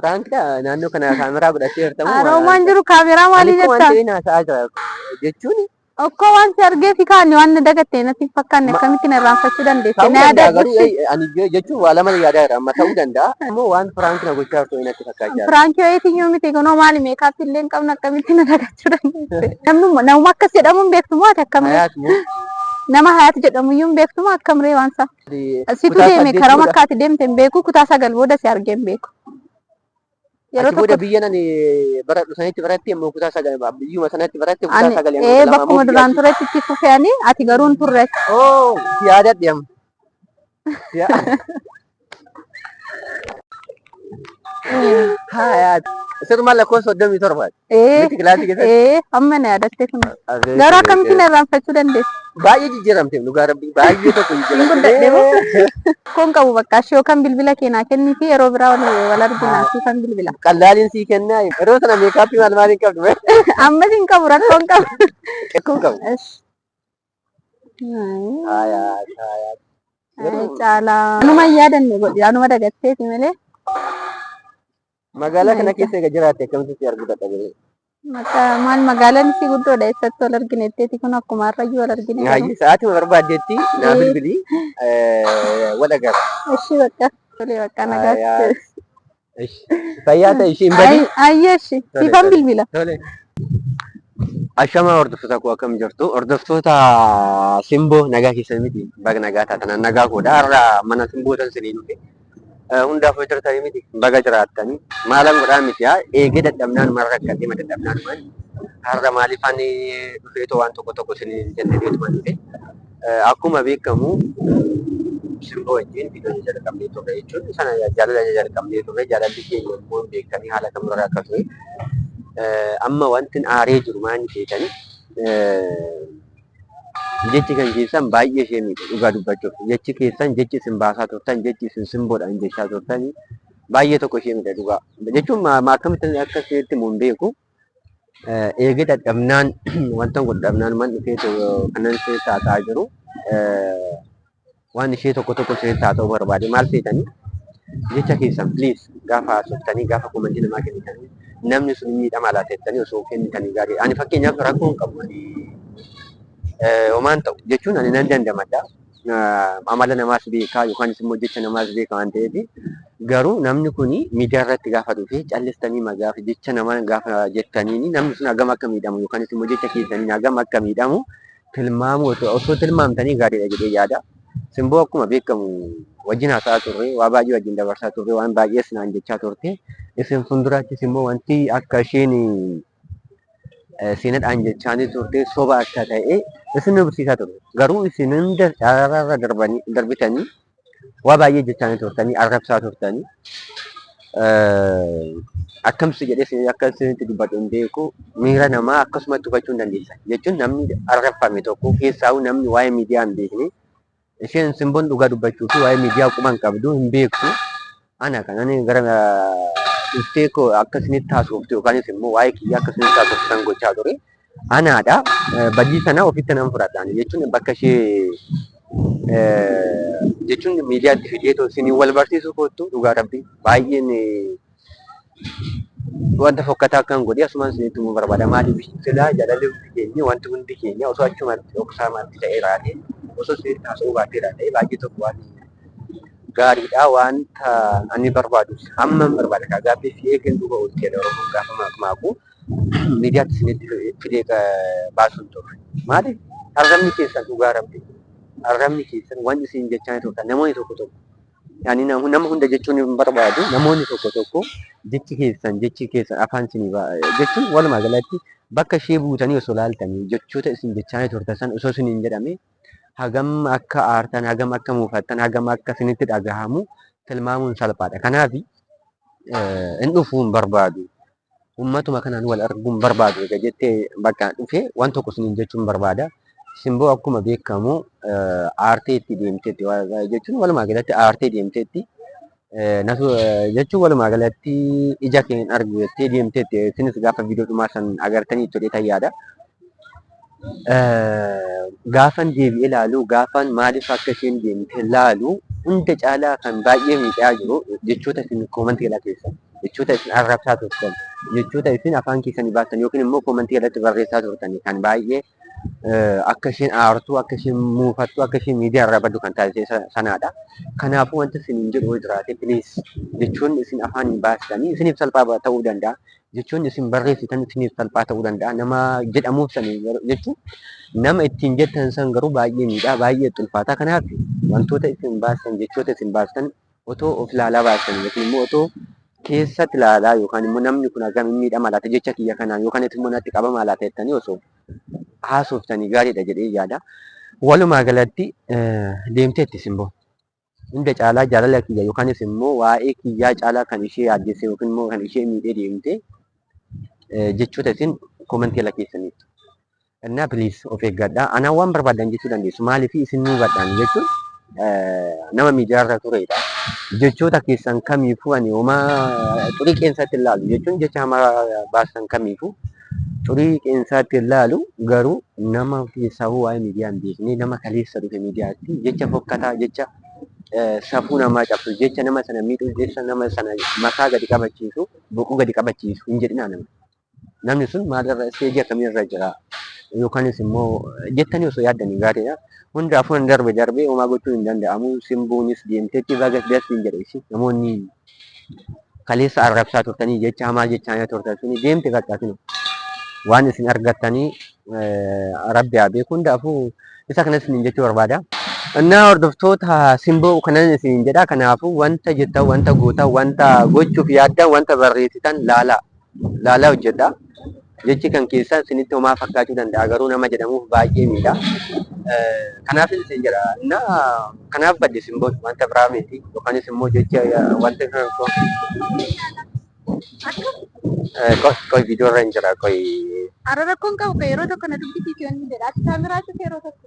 Piraankidha naannoo kana kaameraa godhattee jirtamu. Aroomaan jiru kaameraa maalii jettaa? Ani waan ta'een haasa'aa jira jechuun. Okkoo waan si argee si kaanne waan na dagatte natti hin fakkaanne akkamitti na irraanfachuu dandeesse na yaadaa jirti. Ani jechuun waa lama yaadaa jira amma ta'uu danda'a. Ammoo waan piraanki na gochaa jirtu natti fakkaachaa jira. Piraankii wayiitiyyuu miti kunoo maali meekaappii illee hin qabne akkamitti na dagachuu dandeesse. Namni nama akkas jedhamu hin beektu moo ati akkamree? Nama hayaat jedhamu iyyuu hin beektu moo akkamree waan isaa? Asitu deeme karama akka ati deemte hin beeku kutaa sagal booda si argee hin beeku. Yeroo tokko biyya nani bara dhusanitti baratti immoo kutaa sagal biyyuma sanatti baratti kutaa sagal immoo ee bakkuma duraan turetti itti fufeani ati garuu hin turre. Oo yaadadhe amma. Hayaat. Isa dhumaa lakkoofsa soddomii torbaati. Ee, Miti kilaasii keessatti. ee, amma na yaadatte kun. Abeet, Garuu akkamitti na irraanfachuu dandeessu? Baay'ee jijjiiramte dhugaa rabbii baay'ee tokko Hin guddadhe moo? jijjiiramte. Koon qabu bakka ishee yookaan bilbila keenyaa kennii fi yeroo biraa wal wal arginaa fi kan bilbila. Qallaaliin sii kennaa yeroo sana meekaappii maal maaliin qabdu bee? Ammas hin qabu rakkoon qabu. Rakkoon qabu. Ish. Haaya haasha haaya. Caalaa. Anuma hin yaadanne godhi. Anuma dagatteeti malee. Magaalaa kana keessa egaa jiraatte akkamitti si arguu dadhabee? Maqaa maal magaalaan isii guddoodha eessatti wal argineetteeti kun akkuma har'ayyuu wal argine. garuu. Haayyi sa'aatii barbaaddeetti naa bilbilii wal agarra. Ishii bakka. Tolee bakka nagaatti. Haaya. Fayyaa ta'e isheen badi. Ayyeeshi siifan bilbila. Ashamaa hordoftoota koo akkam jirtu? Hordoftoota simboo nagaa keessan miti. Baga nagaa taatan nagaa koodha. Har'a mana simboo tan siniin dhufe. Hundaaf hojii jirtanii miti. Baga jiraattanii. Maalan godhaa miti haa eegee dadhabnaan maal rakkatee ma dadhabnaan maal. Har'a maaliif ani dhufeetoo waan tokko tokko siniin jennee beekuma dhufe. Akkuma beekamu simboo wajjin viidiyoon jalqabnee turre jechuun sana jaalala jalqabnee turre jaalalli keenya immoo hin beekanii haala kamirra akka ture. Amma wanti aaree jiru maanni seetan jechi kan keessan baay'ee ishee miidhe dhugaa dubbachuuf jechi keessan jechi isin baasaa turtan jechi isin simboodhaan jechaa turtan baay'ee tokko ishee miidhe dhugaa jechuun akkamitti akka isheetti mun beeku Eegee dadhabnaan wanta godhu dhabnaan man dhufee kanan keessa haasa'aa jiru waan ishee tokko tokko isheetti haasa'uu barbaade maal feetanii jecha keessan please gaafa haasoftanii gaafa komantii namaa kennitanii namni sun miidhama laata jettanii osoo kennitanii gaarii ani fakkeenyaaf rakkoo hin qabu ani homaan ta'u jechuun ani nan dandamadha. amala namaas beekaa yookaanis immoo jecha namaas beeka waan ta'eef garuu namni kun miidiyaa irratti gaafa dhufe callistanii gaafa jecha namaa gaafa jettaniin namni sun hagam akka miidhamu yookaanis immoo jecha keessaniin hagam akka miidhamu tilmaamuu osoo tilmaamtanii gaariidha jedhee yaada. Simboo akkuma beekamu wajjin haasa'aa turre waa baay'ee wajjin dabarsaa turre waan baay'ees naan jechaa turte isin fuulduraattis immoo wanti akka isheen Siinadhaan jechaanii turte soba akka ta'e isin barsiisaa ture. Garuu isin hunda araararra darbanii darbitanii waa baay'ee jechaanii turtanii arrabsaa turtanii. Akkamsi jedhee isin akka isinitti dubbadhu hin beeku miira namaa akkasumatti hubachuu hin dandeessan. Jechuun namni arrabfame tokko keessaahuu namni waa'ee miidiyaa hin beekne Isheen Simbon dhugaa dubbachuu fi waa'ee miidiyaa quba hin qabdu, hin beektu. Ana kan ani gara dhuftee koo akka isinitti haasoftu yookaanis immoo waa'ee kiyya akka isinitti haasoftu kan gochaa ture. Anaadha. Eh, Badii sana ofitti nan fudhadha. Ani jechuun bakka ishee eh, jechuun miidiyaatti fidee too isiniin wal barsiisuu koottu dhugaa rabbii baay'een eh, wanta fokkataa akkan godhe asumaan isinitti himuu barbaada. Maaliif silaa jaalalli hundi keenya wanti hundi keenya osoo achumatti dhoksaa maatti ta'ee raate osoo isinitti haasa'uu baatee raate baay'ee tokko waan gaariidha wanta ani barbaadu amma barbaada kaa gaaffii fi eegan duuba oolti jedha oromoon gaafa maakmaaku miidiyaatti isinitti fidee baasuun ture. Maaliif arrabni keessan dhugaa rabbi arrabni keessan waan isin jechaa turtan namoonni tokko tokko Ani nama hunda jechuun hin barbaadu. Namoonni tokko tokko jechi keessan jechi keessan afaan isin jechuun walumaa galatti bakka ishee buutanii osoo laaltanii jechoota isin jechaanii turtan san osoo isin hin jedhame hagam akka aartan hagam akka muufattan hagam akka isinitti dhagahamu tilmaamuun salphaadha. Kanaaf hin dhufuu hin barbaadu. ummatuma kanaan wal arguun barbaadu egaa jettee bakka dhufe waan tokko isiniin jechuun barbaada. Simboo akkuma beekamu aartee itti deemteetti jechuun walumaa galatti aartee deemteetti. Jechuun walumaa galatti ija keen argu jettee deemteetti. Isinis gaafa viidiyoo dhumaa san agartanii turtan yaada. Gaafan deebi'ee ilaalu gaafan maaliif akka isheen deemte ilaalu hunda caalaa kan baay'ee miidhaa jiru jechoota isin koomantii kana keessa jechoota isin arrabsaa turtan jechoota isin afaan keessanii baastan yookiin immoo koomantii irratti barreessaa turtan kan baay'ee akka isheen aartu akka isheen muufattu akka isheen miidiyaa irraa baddu kan taasise sanaadha. Kanaafuu wanti isin jedhu jiraate piliis jechoonni isin afaaniin baastanii isiniif salphaa ta'uu danda'a. jechoonni isin barreessitan isiniif salphaa ta'uu danda'a. Nama jedhamuuf san jechuun nama ittiin jettan san garuu baay'ee miidhaa, baay'ee itti ulfaataa. Kanaaf wantoota isin baastan, jechoota isin baastan otoo of ilaalaa baastan yookiin immoo otoo keessatti ilaalaa yookaan immoo namni kun akkam hin miidhama laata jecha kiyya kanaan yookaan immoo natti qabama laata jettanii osoo haasoftanii gaariidha jedhee yaada. Walumaa galatti deemteetti simboo. hunda caalaa jaalala kiyya yookaanis immoo waa'ee kiyyaa caalaa kan ishee yaaddesse yookiin immoo kan ishee miidhee deemte jechoota isin komantii ala keessaniif. Innaa please of eeggadhaa. Anaa waan barbaadan jechuu dandeessu. Maaliif isin nuu gadhaan jechuun nama miidiyaarra turedha. Jechoota keessan kamiifuu ani homaa xurii qeensatti ilaalu jechuun jecha hamaa baasan kamiifuu Xurii qeensaatti hin laalu garuu nama keessaahuu waa'ee miidiyaa hin beekne nama kaleessa dhufe miidiyaatti jecha fokkataa jecha safuu namaa cabsu jecha nama sana miidhu jecha nama sana mataa gadi qabachiisu boquu gadi qabachiisu hin jedhinaa nama. Namni sun maalirra isteejii akkamiirra jira yookanis immoo jettanii osoo yaaddanii gaariidha. Hundaafuu hin darbe darbee homaa gochuun hin danda'amu simbuunis deemteetti bagas das hin jedhe ishee namoonni kaleessa arrabsaa turtanii jecha hamaa jechaa turtan suni deemte bakka sinu waan isin argattanii rabbi haa beeku hundaafuu isa kanas isin jechuu barbaada. Innaa hordoftoota simboo kanan isin jedha kanaafuu wanta jettan wanta gootan wanta gochuuf yaaddan wanta barreessitan laalaa Laalaa hojjedhaa. Jechi kan keessaan isinitti homaa fakkaachuu danda'a garuu nama jedhamuuf baay'ee miidha. Kanaafis isin jedha na kanaaf badde isin booda wanta biraa miti yookanis immoo jecha wanta kan koo qoy viidiyoo irra hin jira qoy. Ara rakkoon qabu kan yeroo tokko na dubbisiisu yoon jedha ati kaameraatu yeroo tokko.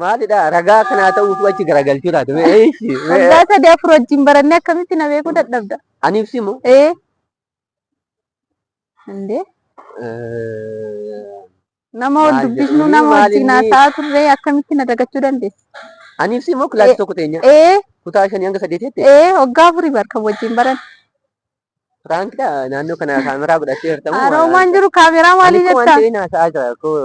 Maalidha ragaa akka naa ta'u utuu achi garagalchuu taate mee eeshi mee Waggaa sadii afur wajjin barannee akkamitti na beekuu dadhabda? ani ibsi moo Ee. Indee nama wal Maal dubbisnu jedhanii, nama maal wajjin inni? haasa'aa turree akkamitti na dagachuu dandeessa? ani ibsi moo kilaasii tokko teenya Ee. kutaa shanii hanga saddeetiitti Ee. Waggaa afurii bar kan wajjin baran. Piraankidha naannoo kana kaameraa godhattee jirtamu. Aroomaan jiru kaameraa maalii jettaa? Ani waan ta'een haasa'aa jira koo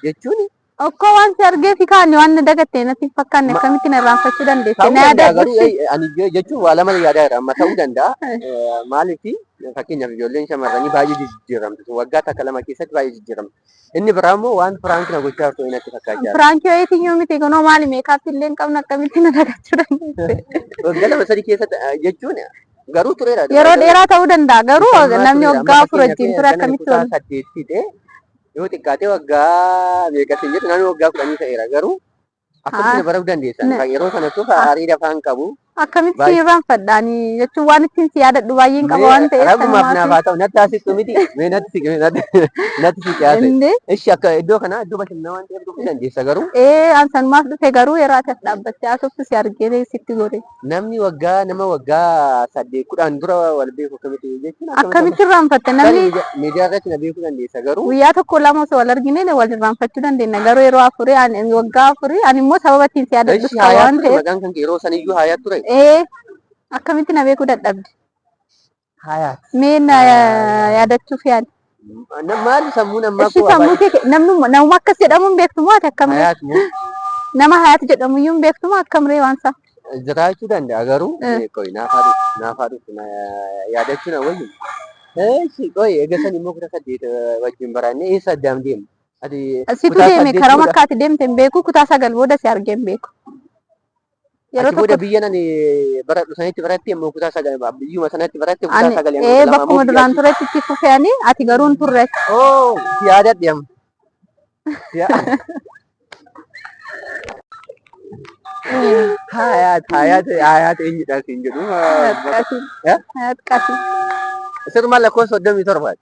jechuun. Okkoo waan si argee si kaanne waan na dagatte natti hin fakkaanne akkamitti na irraanfachuu dandeesse? Na yaadaa garuu ani jechuun waa lama yaadaa jira amma ta'uu danda'a. Maaliif fakkeenyaaf ijoolleen shamarranii baay'ee jijjiiramtu waggaa takka lama keessatti baay'ee jijjiiramtu. Inni biraa immoo waan firaanki na gochaa turte wayii natti fakkaachaa jira. Firaanki wayiitiin yoo miti kunoo maali meekaappii illee hin qabne akkamitti na dhagachuu dandeesse. Waggaa lama sadii keessatti eh, jechuun garuu tureera. Yeroo dheeraa ta'uu danda'a garuu Amma namni tureera. waggaa Amma afur fakkeenyaaf wajjin ture ganna akkamitti kutaa wal saddeet fide yoo xiqqaatee waggaa meeqa siin jedhu naannoo waggaa kudhanii ta'eera garuu Akkamitti na baruu dandeessan? Na- Kan yeroo sanattuu Ah. aarii dafaa hin qabu. Akkamitti Baay'ee- irraanfadhaani jechuun waan ittiin si yaadadhu baay'een qaba waan ta'eef Rabbumaaf naaf sanumaatu- haa ta'u natti haasisuu miti. Mee natti siqe natti natti siqe haasa'e. Indee, Ishi akka iddoo kanaa iddoo bashannanaa waan ta'eef dhufuu dandeessa garuu ee an sanumaaf dhufe garuu yeroo ati as dhaabbattee haasoftu si argee sitti gore. Namni waggaa nama waggaa saddeet kudhaan dura wal beeku akkamitti jechuun Akkamitti irraanfatte Tarii namni miidiyaa- miidiyaa irratti na beekuu dandeessa garuu guyyaa tokko lama osoo wal argine wal irraanfachuu dandeenya garuu yeroo afurii ani waggaa afurii ani immoo sababa ittiin si yaadadhu Eshi qaba haayaa waan ture ta'eef maqaan kan kee yeroo saniyyuu haayaa ture. ee akkamitti na beekuu dadhabde Hayaat. Mee na yaadachuuf yaali. Maali sammuun ammaa Ishii sammuu kee namnuma namuma akkas jedhamu hin beektu moo ati akkamree? Hayaat moo Nama hayaat jedhamu iyyuu hin beektu moo akkamree waan isaa? jiraachuu danda'a garuu Eh. eh, qoy naafaa dhufu naafaa dhufu na yaadachuun awwayyu. Eessi qoy eegasan immoo kutaa saddeet eh, wajjin baranne eessa addaan deemu? Ati Situ kutaa deeme saddeet karaa fuudha. makkaati deemte hin beeku kutaa sagal booda si argee hin beeku. Yeroo Achi booda tokko biyyan ani baradhu sanitti baratti immoo kutaa sagal biyyuma sanatti baratte kutaa ani sagal hanga ee kudha lama ammoo bakkuma biyya duraan achi. turetti itti fufe ani ati garuu hin turre. Oo si yaadadhe amma. Si yaa- Hayaat hayaat hayaat eenyudhaan siin jedhu. Hayaat qasi. Eh? Hayaat qasi. Sirma lakkoofsa soddomii torbaati.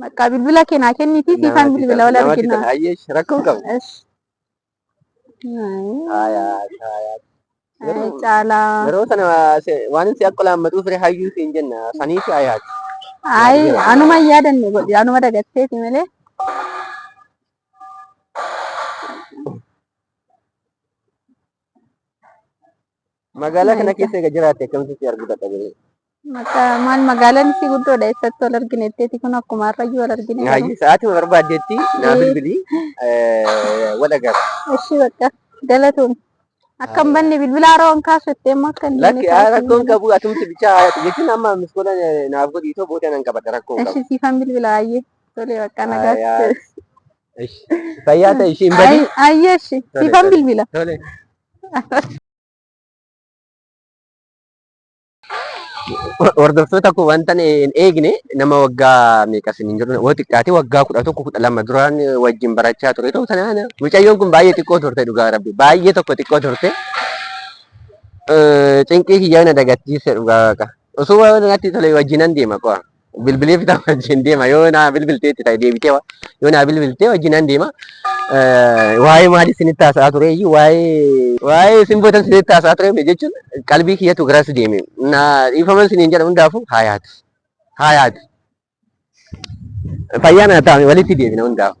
Bakka bilbila kee naa kenniti siifaan bilbila wal argina. Rakkoo qabu. Caalaa. Yeroo sana waan si akka laammatuu fire hayyuu siin jenna sanii si ayaati. Ayi anuma hin yaadanne godhi anuma dagatteeti malee. Magaalaa kana keessa egaa jiraatte akkamitti si arguu dadhabee? Maal magaalaan isii guddoodha eessatti wal argineetteeti kun akkuma har'ayyuu wal argine. Hayyee sa'aatii wal barbaaddeetti naa bilbilii wal agarra. Ishii bakka galatoom. Akkam banne bilbila haroo hin kaasu itti immoo akka hin Lakki rakkoon qabu atumti bichaa jechuun amma miskoola naaf godhii too booda nan qabadha rakkoon qabu. Ishii siifan bilbila hayyee tolee bakka nagaa. Fayyaa ta'e ishii hin badii. Hayyee ishii siifan bilbila. Tolee. hordoftoota koo wanta hin eegne nama waggaa meeqa sin hin jiru yoo xiqqaate waggaa kudha tokko kudha lama duraan wajjin barachaa ture ta'u sanaan mucayyoon kun baay'ee xiqqoo turte dhugaa rabbi baay'ee tokko xiqqoo turte cinqii kiyyaa na dagattiise dhugaa waaqa osoo waan natti tole wajjinan deema qo'a bilbilee fita wajjin deema yoo naa bilbiltee itti ta'e deebitee wa- yoo naa bilbiltee wajjin nan deema Eh, waa'ee maalii isinitti haasa'aa ture iyyuu waa'ee waa'ee isin bootan isinitti haasa'aa ture mee jechuun qalbii kiyyatu garas deeme na dhiifaman isiniin jedha hundaafuu haa yaadu haa yaadu fayyaa na ta'ame walitti deebina hundaafuu.